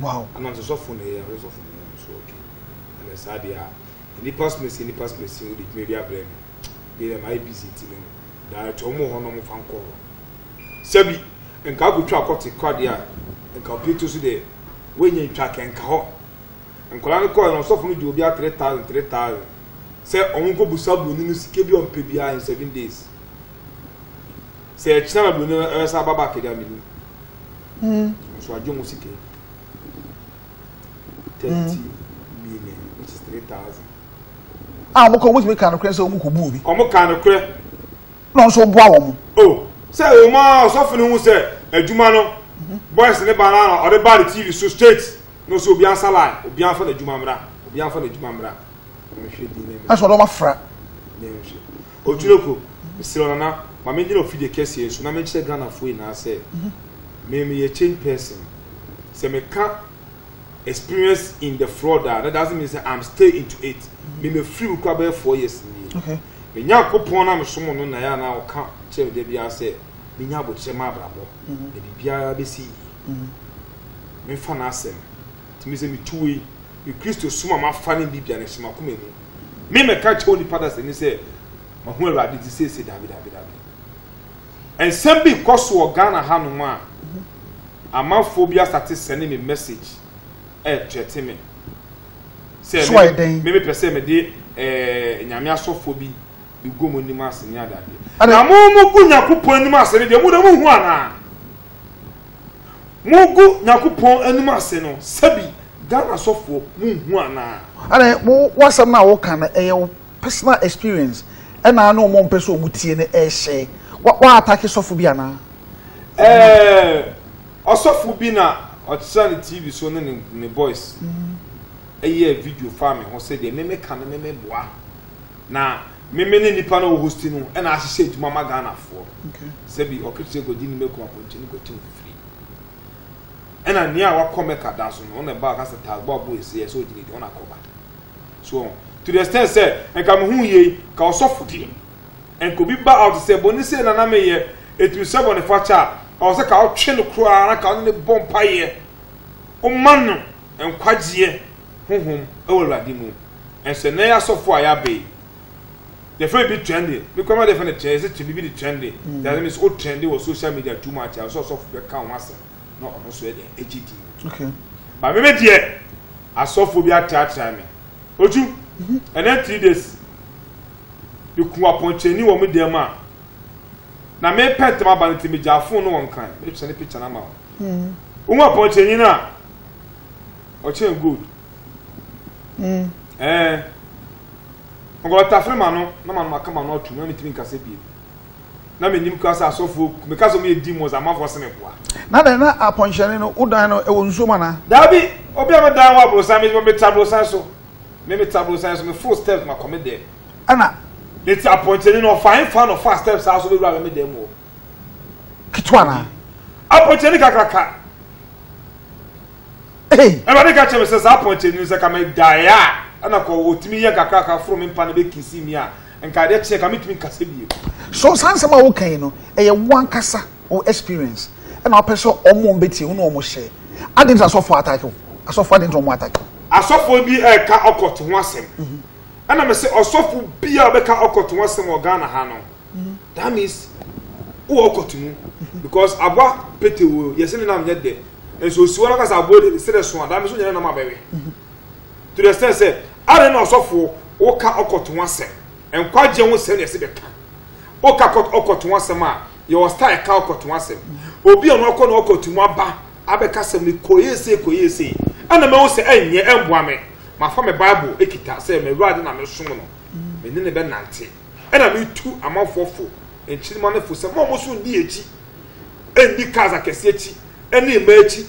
wow. Ama nso sɔfo na ɛyɛ ɔyɛ sɔfo no nso okay ɛna saa deɛ a nnipa sumasi nnipa sumasi wode dwuma bi abrɛ no bi na mayɛ busy nti no direct wɔn wɔ hɔ na wɔn fa nkɔ hɔ sɛbi nka akotwa akɔte kɔ adeɛ a nka obi to so deɛ wɔnyɛ ntwa kɛ nka hɔ nkɔla no kɔɛ na ɔsɔfo no gye obi a three thousand three thousand sɛ wɔn nkɔ busa buroni no sika bi ɔmpɛ biara in seven days sɛ ɛkyina na buroni no ɛbɛsa aba back deɛ ameni Mm. Nso agye wɔn sika yi. Thirty mm. million which is three thousand. A ah, wɔn kɔ wɔn tumi kan korɛ sɛ wɔn kɔ bu obi. Wɔn kan korɛ. Na nso boa wɔn. O oh, sɛ wɔn a ɔsɔfo no hu sɛ adwuma no mhm. boys ne ba na ɔde ba ne tv so straight na ɔsɛ obi ansa line obi anfa n'adwuma mmra obi anfa n'adwuma mmra. Ɛsɛ ɔdɔm afra. Oturoko, Mesrɛ wo Nana, ma me ngyina ofidie kɛseɛ yi so na menkyerɛ Ghanafoɔ nyinaa sɛ me meyɛ change person. Sɛ meka experience in the fraud a, that doesn't mean sɛ I'm stay into it. Me mefiri mu koraa bɛyɛ four years nie. Okay. Me Nyankopɔn no a mesom no na yɛ a na ɔka kyerɛ me da biara sɛ menya abokyerɛ ma abrabɔ mm-hmm. na biribiara bɛsi yie. Mm-hmm. Memfa n'asɛm. Tumi sɛ metu wei, me Kristo som a mafa ne Biblia na ɛhyɛ m'akoma mu. Me mɛka kyerɛ onipa dasani sɛ mahu Awurade ti seesei daabi daabi daabi. Nsɛm bi kɔ so wɔ Ghana hanom a amanfoɔ bi asate sɛne me message ɛɛtrɛte me sɛ me mepɛ sɛ mede ɛɛ nyame asɔfoɔ bi bɛgu mo anim ase ne adeadeɛ. Na mo mo gu Nyankopɔn anim ase no deɛ mo na mo hu anaa? Mogu Nyankopɔn anim ase no sɛbi Ghana sɔfoɔ monhu anaa. Ɛne wo w'asɛm no a woka no ɛyɛ wo personal experience ɛna ne ɔmo mpɛ sɛ ɔmo tie no ɛhyɛ wa wa atake sɔfo bi anaa. Ɛɛ ɔsɔfo bi na ɔkyerɛ ne TV so ne ne boys ɛyɛɛ video faa me ho sɛdeɛ me me ka no me me boa na Meme ne nnipa no wɔ Hosti no na ahyehyɛ adwuma ma Ghanafoɔ no. Sɛ bi ɔketeɛ kɔdi ne mako apɔnkye no kɔtim fifiri. Ɛna nea wakɔ Mecca da so no, ɔna ɛba ɔka sɛ taagbo abo esi ɛsɛ ɔgyina di, ɔna akɔba. So ɔho. To the extent sɛ, nka me hu yei, ka ɔsɔfo deɛ. Nka obi ba out sɛ, bɔne sei na na meyɛ, ɛtumi sɛ bɔne fakyɛ a, ɛwɔ sɛ ka ɔtwe no koraa na ka ɔne ne bɔ mpaeɛ. Ɔma no nkwagyeɛ honhom wɔ Awurade mu. Ɛsɛ nnɛ yɛ asɔfo a yɛaba yi, yɛfrɛ biribi trendy. Me koraa m'ade yɛfrɛ no trendy, yɛse biribi de trendy. Mm. That means o trendy wɔ social media too much a, ɔsɛ ɔsɔfo bɛka ho asɛm na ɔno nso yɛ dɛn agye din. Okay. Ba me me deɛ, asɔfo bi atratra me. Otu, mm-hmm. ɛnɛ three days, meku apɔnkyɛni wɔ me dan mu a, na mepɛ ntɛm aba no nti megyaa fon no wɔ nkran, mepɛ ne picture no ama wo. Mm. Wohu apɔnkyɛni no a, ɔkyɛn gold. Mm. Eh. Nka ɔtafere ma no na ma no maka ma no atum na metumi nkasa bie na menim kora sɛ asɔfoɔ meka sɛ ɔmyɛ demons amafoɔ sɛ meboa na dɛn na apɔnhyɛne no wodan no ɛwɔ nsuo mu anaa daabi obi a medan wɔ aborosan meta aborosan so me meta aborosan so me full steps makɔ me dɛm ɛna ɛti apɔnkyɛne no ɔfae fa na ɔfa steps a so bɛwura me dɛm wɔ ketewa na apɔnkyɛne kakraka Ei! Awurade ka kyerɛɛ me sɛ, Saa pɔnkye no, sɛ ka megyae a, ɛna kɔ ɔtumi yɛ nkakrankra foro me mpa na bɛkisi mi a, nka adeɛ kye nka mentumi nkasa bio. So saa nsɛm a woka yi no, ɛyɛ wo ankasa wo experience ɛna wopɛ sɛ wɔn bɛtie wo ne wɔn hyɛ? Adɛn nti na asɔfoɔ attack wo? Asɔfoɔ adɛn nti na wɔn attack wo? Asɔfoɔ bi reka occult ho asɛm, ɛna mese ɔsɔfo biara a ɔbɛka occult ho asɛm wɔ Ghana ha no, mhm. that means wowɔ kɔto mu mhm. because aboa pete wo yɛsɛ ne nam nyɛ dɛ nso osi hɔ no kasa aboa de sɛ dɛ so a dame so nyɛ ne nam abɛwe mhm. to the extent sɛ ade na ɔsɔfoɔ woka ɔkɔto ho asɛm nkwagyeɛ ho sɛm na ɛsɛ bɛka woka ɔkɔto ho asɛm a yɛwɔ style ka ɔkɔto ho asɛm obi a ɔno ɔkɔ na ɔkɔto mu aba abɛka sɛm no kɔyɛ sei kɔyɛ sei ɛna mɛhu sɛ ɛnyɛ ɛmboa me mafa me bible ekita sɛ mewurade na mesom no mene ne bɛnante Ɛna metu amanfoɔ fo, nkyirimma no fo, sɛ mma wɔn nso nni akyi, nni cars akɛseɛ akyi, ne mmaa akyi,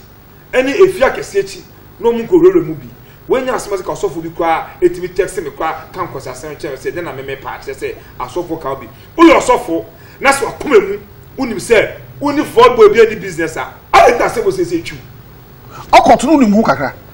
ne efie akɛseɛ akyi, na wɔn nkɔ wurawura mu bi. Wanya asɛm ase ka ɔsɔfoɔ bi koraa etumi text me koraa ka nkwaseasɛm kyerɛ me sɛ dɛn na meme paa kyerɛ sɛ asɔfoɔ ka wo bi. Woyɛ ɔsɔfoɔ na sɛ wakoma mu wonim sɛ wonni fraud boy bi ani business a, adɛn nti na asɛm wɔ siesie twiw. Ɔkɔto no wonim ho kakra.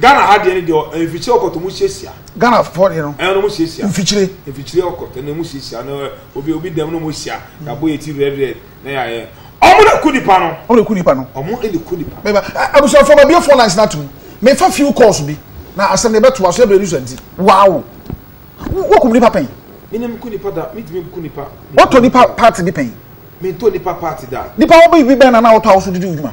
Ghana ha deɛ no deɛ mfikyire ɔkɔtɔ mu siesia. Ghana fɔ deɛ no. Ɛna ɔmo siesia. Mfikyire. Mfikyire ɔkɔtɔ ɛna ɔmo siesia na obi obi dɛm na ɔmo sia na bɔ yɛ ti red red na yɛ ayɛ. Ɔmo na ku nipa no. Ɔmo na ku nipa no. Ɔmo ɛna ku nipa. Mɛba abusuafo ma bie four lines na tum. Mɛfa few calls bi na asɛm deɛ bɛto aso ɛbɛrɛ ni so nti. Wow. Wɔ kum nipa pɛn. Minim ku nipa da mi tumi ku nipa. Wɔtɔ nipa party bi pɛn. Mi ntɔ nipa party da. Nipa wɔbɛ bi bɛn na na wɔtɔ awoso didi odwuma.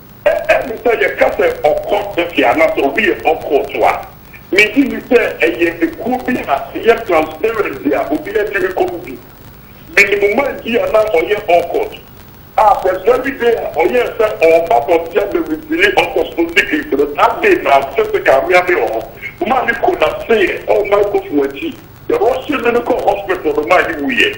Ɛɛ me sɛ yɛka sɛ ɔkɔ tɛfia anaasɛ obi yɛ ocult a, megye di sɛ ɛyɛ ekuo bi a ɛyɛ transparent bi a obiara tumi kɔ mu bi. Menim man bi a na ɔyɛ ocult a the very day a ɔyɛɛ sɛ ɔreba abɔnten abɛ reveale ocult no secret no, that day na physical me ara me wɔ hɔ, maa me kollapseeɛ wɔ microphone akyi, yɛ rushe me no kɔɔ hospital no maa me wuiɛ.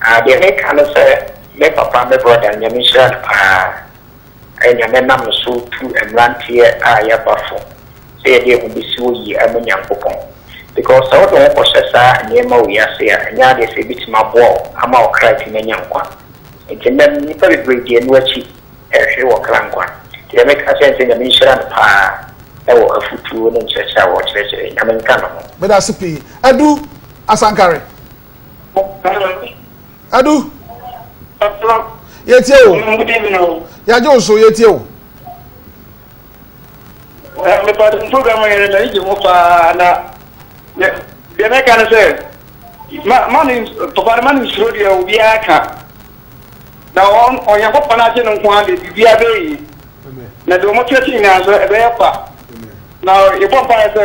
Ah deɛ meka ne sɛ me papa me brɔda nyame nhyira no paa ayɛ nyame nam no so tu mmeranteɛ a yɛaba fo sɛ yɛde yɛn ho bɛsi hɔ yie ama Nyankopɔn because sɛ wode wo ho kɔhyɛ saa nneɛma wei ase a ɛnyɛ adeɛ sɛ ɛbɛtumi aboa wo ama wo kra atumi anya nkwa nti nnɛ no nnipa bebree di ɛno akyi ɛrehwere wɔn kra nkwa nti deɛ meka akyerɛ ne sɛ nyame nhyira no paa ɛwɔ afutuo ne nkyerɛkyerɛ a ɔkyerɛkyerɛ nyame nka ne ho. Medase pii Adu Asankare. adu yɛtie o yɛagye wo so yɛtie o mepade program yɛrɛ mɛne gye ho paa na deɛ mɛka no sɛ mane papa no mane nsuro deɛ obiara ka na ɔnyankopɔn no agye no nko a deɛ biribiara bɛyi na deɛ ɔmɔtwerɛ kye nyinaa nso ɛbɛyɛ kwa na yɛbɔ mpaeɛ sɛ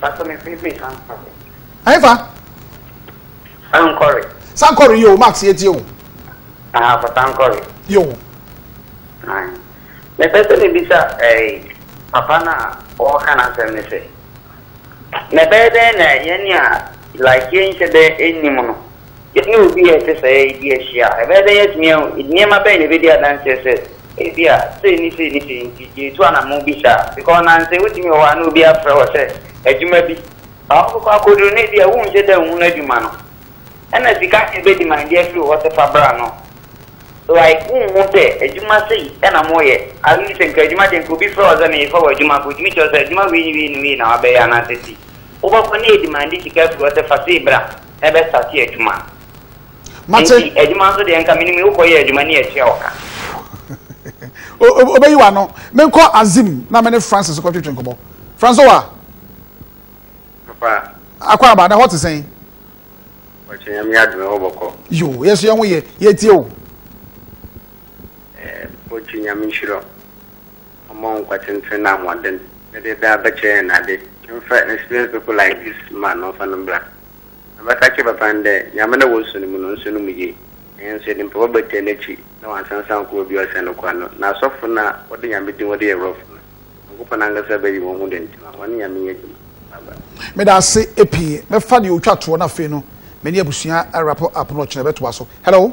Pastor, me free free Sankore. Ayi fa. Sankore. Sankore yo, Max ye tie o. Ah, for Sankore. Yo. Ah. Me pese me bisa eh papa na o kana asem ne se. Na be den na ye ni a like ye nche be enni mu no. Yɛne obi a ɛte saa yi di ahyia a, ɛbɛyɛ dɛn yɛatumi ahu? Nneɛma bɛn na ebedi adanse sɛ ebia sei ne sei ne sei nti yɛretu anammɔn bi saa? Because nnansa yi wotumi wɔ hɔ a na obi afrɛ wo sɛ adwuma bi ba hɔ kɔkɔ akoduru na ebia wonhyɛ da nhunu adwuma no. Ɛnna sika na ebedimanedeɛ afiri wo hɔ sɛ fa bra no. Like wonhu sɛ adwuma sei na moreyɛ. At least nka adwuma deɛ nka obi frɛ wo sɛ merefa wo adwuma kɔ, otumi kyerɛ wo sɛ adwuma wei ne wei ne wei na wabɛyɛ anaasɛ sei. Wobɛkɔ na yɛdimande sika afiri hɔ sɛ fa sei bra. ɛbɛ sate adwuma mate nti adwuma nso deɛ nka menim wokɔ yɛ adwuma ne atua wo ka obɛyi wano menkɔ azim na mene francis kɔ twetwe nkɔbɔ francis wa papa akɔ aba na hɔ te sɛn ɔkyɛ nyame adome hɔ bɔkɔ yo yɛso yɛ ho yɛ yɛtie o eh, ɔkyɛ nyame nhyira Ɔmma wo nkwa tsentsen na ahoɔden na dɛ daa bɛkyɛ hɛn ade. Mfa experience people like this man no mfa no mbra. Mebɛka akyerɛ papa no dɛ nyia me na worusuo no mu no nsuo no mu yie. Ɛnyɛ nso yɛde mpaboa bɛtɛɛ n'akyi na wansansan ankɔ baabi a ɔsɛn no kwan no. Na asɔfo no a wɔde Nyame din wɔde yɛ rough no, Nyankopɔn ankasa bɛyi wɔn ho dɛn nti ma wɔne Nyame nyɛ adwuma. Bye bye. Meda ase pii. Mɛfa deɛ ɔtwa toɔ no afei no me ne abusua wrap up no ɔkyena bɛtoa so. Hello.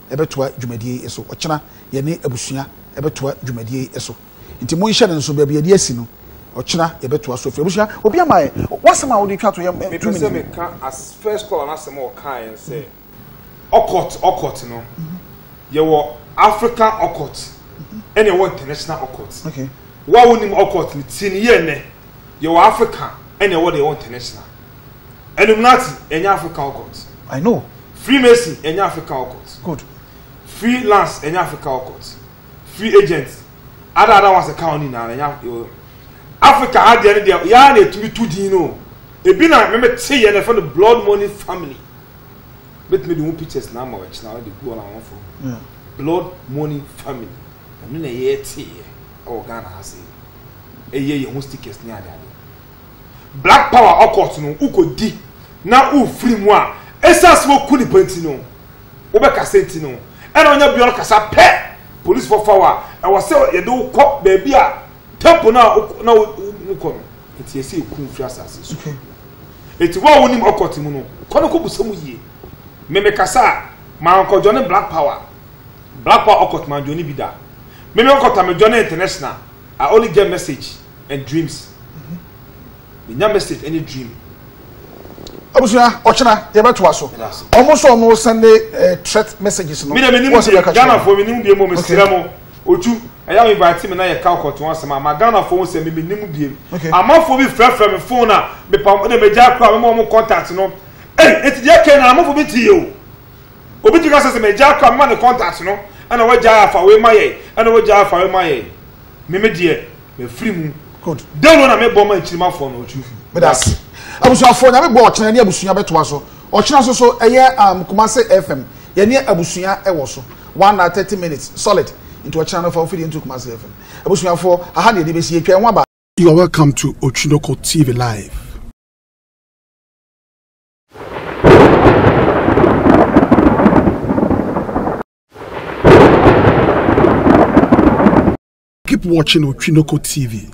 bɛtoa dwumadie yi so. Ɔkyena yɛne abusua bɛtoa dwumadie yi so. Nti monhyɛ no nso baabi yɛde asi no ɔkyena yɛbɛtoa so afiri. Abusua obi ama yɛ w'asɛm a wode twa to yɛ two minutes. Mepɛsɛ meka as first caller no asɛm a ɔkaeɛ no sɛ Okot Okot no yɛwɔ African Okot ɛna yɛwɔ international Okot. Wo a wonim Okot no tie no yie nnɛ yɛwɔ African ɛna yɛwɔ deɛ yɛwɔ international. Illuminati ɛnyɛ Africa occult. I know. Freemason ɛnyɛ Africa occult. Good. Free lance ɛnyɛ Africa occult. Free agent ada ada wɔn asɛka wɔn nyinaa ɛnyɛ Africa ha deɛ ne deɛ yaa na etumi tu din no ebi na mɛmɛ te yɛ na ɛfɛ no blood money family bɛtumi de ho pictures na ama wɔkyena wɔn de gu wɔn ahɔn fam hmm. blood money family ɛno na ɛyɛ te yɛ ɛwɔ Ghana ha se ɛyɛ yɛ ho stickers ne adeade. Black power ocult no wokɔdi na wofiri mu a, ɛsiane sɛ wɔku nipa nti no, wobɛkasa nti no, ɛna ɔnya bia no kasa pɛ, polisfoɔ fa wo a, ɛwɔ sɛ yɛde wo kɔ baabi a temple no a na wokɔ no, nti ɛsɛ yɛku wo firi asase so. Nti wo a wonim ocult mu no, kɔ no kɔbusa mu yie. Me mekasa a, mankɔdwane black power, black power ocult mandwane bi da. Me me ocult a medwane international, I only get message. and dreams menya message ɛne dream. Abusua ɔkyena yɛbɛtoa so ɔmo nso ɔmo sɛnde eh, threat messages no. mi de mi ni mu bie Ghana fo mi ni mu bie mu mi sira mu otu ɛyà mi ba ti mi na yɛ ka ɔkɔtun asɛm ama Ghana fo sɛ mi mi ni mu bie amafo bi fɛfɛ mi fon na mi pa ɔmo de mi gya kura mi ma ɔmo contact no ɛy eti deɛ kɛn na amafo bi ti yɛ o obi ti ka sɛ sɛ mi gya kura mi ma ne contact no ɛna wɔ gya afa wei ma yɛ ɛna wɔ gya afa wei ma yɛ. Meme deɛ mafiri mu. Good. Dɛn no na mebɔ ma nkyirimafoɔ no ɔtwe fi. Medase. Abusuafoɔ nyame bɔ ɔkyena ne abusua bɛtoa so. Ɔkyena so so ɛyɛ um, Kumase FM. Yɛne abusua ɛwɔ so. One hour thirty minutes solid. Nti ɔkyena no fa ofidie nto Kumase FM. Abusuafoɔ, aha ne yɛde bɛsi yɛtwa ɛho aba. You are welcome to Otwinoko TV Live. Keep watching Otwinoko TV.